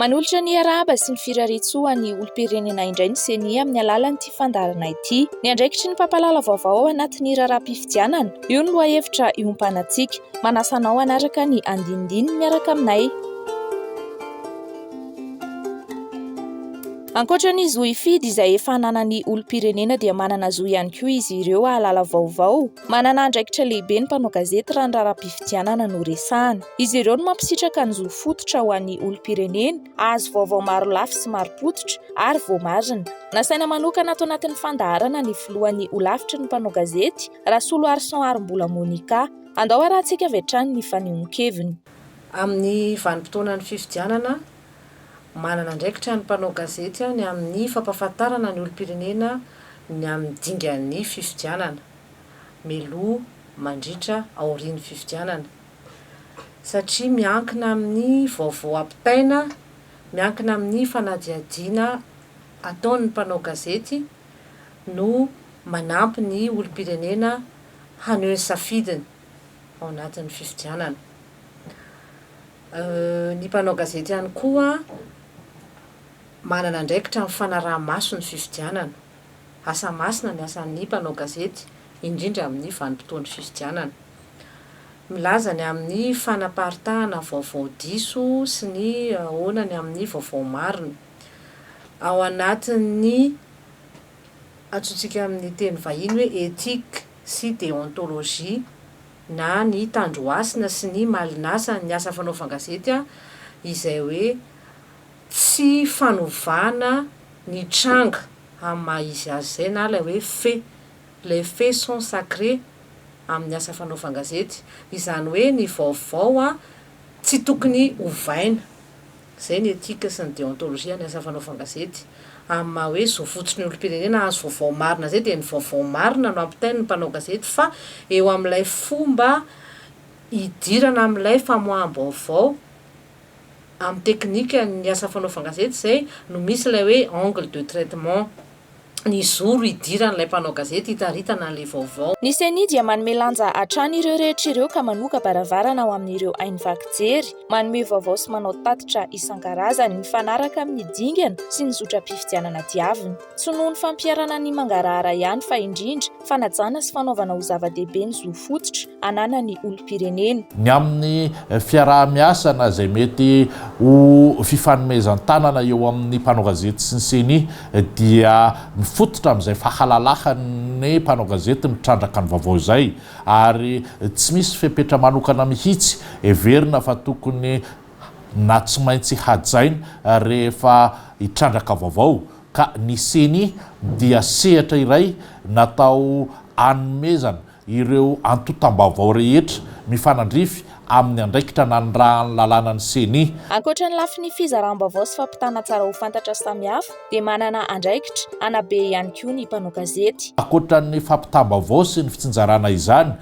Manolotra ny arahaba sy ny firarian-tsoa an'ny olom-pirenena indray ny Ceni amin'ny alalan'ity fandaharana ity. Ny andraikitry ny mpampalala vaovao ao anatin'ny raharaham-pifidianana, io no lohahevitra iompanantsika. Manasa anao hanaraka ny andinindininy miaraka aminay. Ankoatra ny zo hifidy izay efa ananan'ny olom-pirenena dia manana zo ihany koa izy ireo hahalala vaovao. Manana andraikitra lehibe ny mpanao gazety raha ny raharaham-pifidianana no resahana. Izy ireo no mampisitraka ny zo fototra ho an'ny olom-pirenena hahazo vaovao marolafy sy marim-pototra ary voamarina. Nasaina manokana ato anatin'ny fandaharana ny filohan'ny Holafitry ny mpanao gazety, Rasoloarison Arombola Monica. Andao harahantsika avy hatrany ny fanehoan-keviny. Amin'ny vanim-potoanan'ny fifidianana, Manana andraikitra ny mpanao gazety any amin'ny fampahafantarana ny olom-pirenena ny amin'ny dingan'ny fifidianana, mialoha, mandritra, aorian'ny fifidianana. Satria miankina amin'ny vaovao ampitaina, miankina amin'ny fanadihadiana ataon'ny mpanao gazety no manampy ny olom-pirenena haneho ny safidiny ao anatin'ny fifidianana. Ny mpanao gazety ihany koa manana andraikitra amin'ny fanaraha-maso ny fifidianana. Asa masina ny asan'ny mpanao gazety, indrindra amin'ny vanim-potoan'ny fifidianana. Milaza ny amin'ny fanaparitahana vaovao diso sy ny ahoana ny amin'ny vaovao marina. Ao anatin'ny antsointsika amin'ny teny vahiny hoe éthique sy déontologie. na ny Tandrohasina sy ny Malinasa ny asa fanaovan gazety a izay hoe tsy fanovana ny tranga amin'ny maha izy azy izay na ilay hoe fait, les faits sont sacrés amin'ny asa fanaovan gazety izany hoe ny vaovao a tsy tokony ovaina Izay ny etika sy ny deontologie any asa fanaovana gazety. Amin'ny maha hoe zo fotsin'ny olom-pirenena hahazo vaovao marina izay dia ny vaovao marina no ampitain'ny mpanao gazety fa eo amin'ilay fomba hidirana amin'ilay famoaham-baovao amin'ny teknikan'ny asa fanaovana gazety izay no misy ilay hoe angle de traitement. ny zoro hidiran'ilay mpanao gazety hitaritana an'ilay vaovao. Ny Ceni dia manome lanja hatrany ireo rehetra ireo ka manoka baravarana ho amin'ireo haino vaky jery, manome vaovao sy manao tatitra isan-karazany mifanaraka amin'ny dingana sy ny zotram-pifidianana diaviny. Tsy noho ny fampiharana ny mangarahara ihany fa indrindra, fanajana sy fanaovana ho zava-dehibe ny zo fototra ananan'ny olom-pirenena. Ny amin'ny fiaraha-miasana izay mety ho fifanomezan-tanana eo amin'ny mpanao gazety sy ny Ceni dia mifototra amin'izay fahalalahan'ny mpanao gazety mitrandraka ny vaovao izay ary tsy misy fepetra manokana mihitsy heverina fa tokony na tsy maintsy hajaina rehefa hitrandraka vaovao ka ny ceni dia sehatra iray natao hanomezana ireo antontam-baovao rehetra mifanandrify amin'ny andraikitra nanirahan'ny lalàna ny ceni. Ankoatra ny lafiny fizaram-baovao sy fampitana tsara ho fantatra samihafa dia manana andraikitra hanabe ihany koa ny mpanao gazety. Ankoatra ny fampitam-baovao sy ny fitsinjarana izany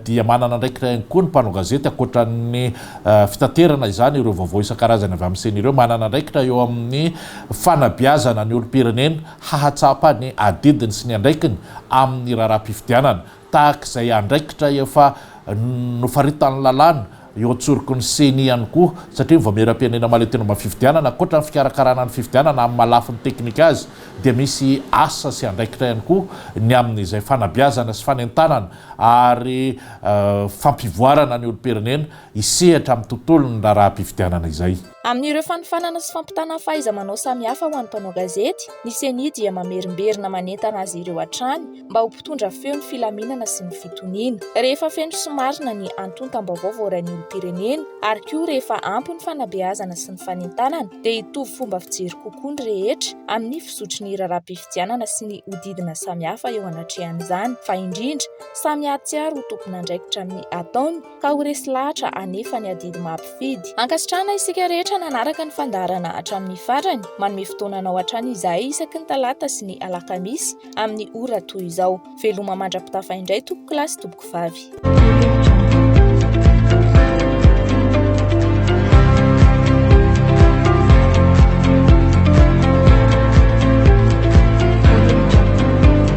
dia manana andraikitra ihany koa ny mpanao gazety ankoatra ny fitaterana izany ireo vaovao isan-karazany avy amin'ny ceni ireo, manana andraikitra eo amin'ny fanabeazana ny olom-pirenena hahatsapa ny adidiny sy ny andraikiny amin'ny raharaham-pifidianana tahaka izay andraikitra efa nofaritan'ny lalàna eo an-tsoroky ny Ceni ihany koa, satria ny Vaomieram-pirenena mahaleo tena momba ny fifidianana, ankoatra ny fikarakarana ny fifidianana amin'ny maha lafiny teknika azy, dia misy asa sy andraikitra ihany koa ny amin'izay fanabeazana sy fanentanana ary fampivoarana ny olom-pirenena hisehatra amin'ny tontolon'ny raharaham-pifidianana izay. Amin'ireo fanofanana sy fampitana fahaiza-manao samihafa ho an'ny mpanao gazety, ny Ceni dia mamerimberina manentana azy ireo hatrany mba ho mpitondra feo ny filaminana sy ny fitoniana. Rehefa feno sy marina ny antontam-baovao voarain'ny olom-pirenena ary koa rehefa ampy ny fanabeazana sy ny fanentanana dia hitovy fomba fijery kokoa ny rehetra amin'ny fizotry ny raharaham-pifidianana sy ny hodidina samihafa eo anatrehan'izany fa indrindra samy hahatsiaro ho tompon'andraikitra amin'ny ataony ka ho resy lahatra anefa ny adidy maha mpifidy. Ankasitrahana isika rehetra nanaraka ny fandaharana hatramin'ny farany, manome fotoana anao hatrany izahay isaky ny talata sy ny alakamisy amin'ny ora toy izao. Veloma mandra-pitafa indray tompoko lahy sy tompoko vavy.